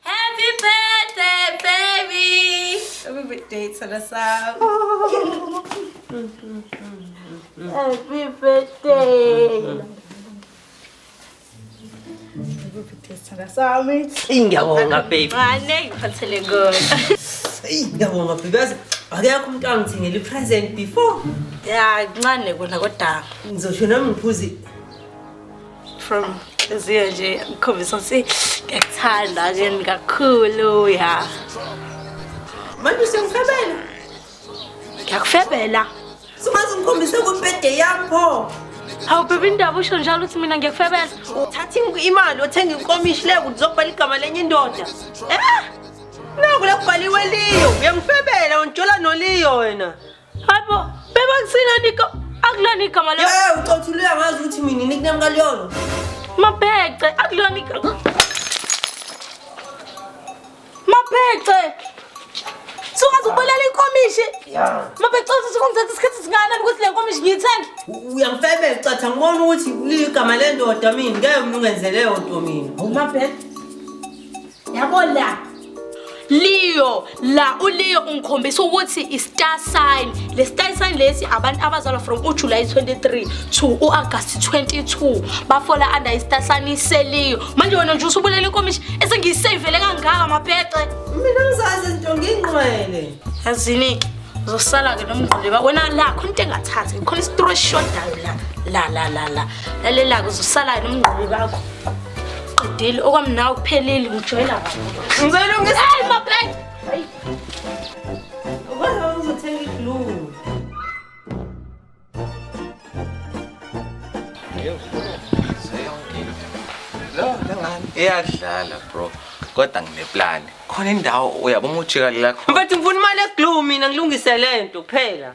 Happy birthday baby. Happy birthday sana sana. Happy birthday. Ngiyabonga baby. Mane ngiphathele kona. Ngiyabonga baby. Yazi akekho umuntu angithengele i-present before. Ya ncane kona kodwa. Ngizosho nami ngiphuze from inhliziyo nje ngikhombisa ukuthi ngiyakuthanda ke kakhulu ya manje usengifebela ngiyakufebela sumaze ngikhombise kubhede yakho hawu bebe indaba usho njalo ukuthi mina ngiyakufebela uthatha imali othenga inkomishi le ukuthi uzobhala igama lenye indoda eh naku lekubhaliwe liyo uyangifebela unjola noliyo wena Hayibo, beba kusilani ka akulona igama lakho. Yeyi ucothulile angazi ukuthi mina nickname kaliyona. Mabhece, akulona igama. Mabhece. Sungaze ubulala inkomishi. Mabhece uthi sikungithatha isikhathi singana ukuthi le nkomishi ngiyithenge. Uyangifebela ucathi angibona ukuthi ligama lendoda mina ngeke mina ungenzele yonto mina. Mabhece. Yabo la. Leo la uLeo ungikhombisa ukuthi i-star sign le star sign lesi abantu abazalwa from uJuly 23 to uAugust 22 bafola under i-star sign iselio manje wena nje usubulela inkomishi esengiyisavele kangaka mabhece mina ngizazi into ngingqwele yazinike uzosala ke nomngquleba wena la khona into engathathi khona isitori esishodayo la la la la la lalela-ke uzosala nomngquleba wakho Qedile okwamnawo kuphelile ngijoyina kabi. Ngicela ungise. Hey mabhek. Hayi. Ukwazi uzothenga iglue. Iyadlala bro. Kodwa ngineplan. Khona indawo uyabona ujika lakho. Mfethu ngifuna imali eglue mina ngilungise lento kuphela.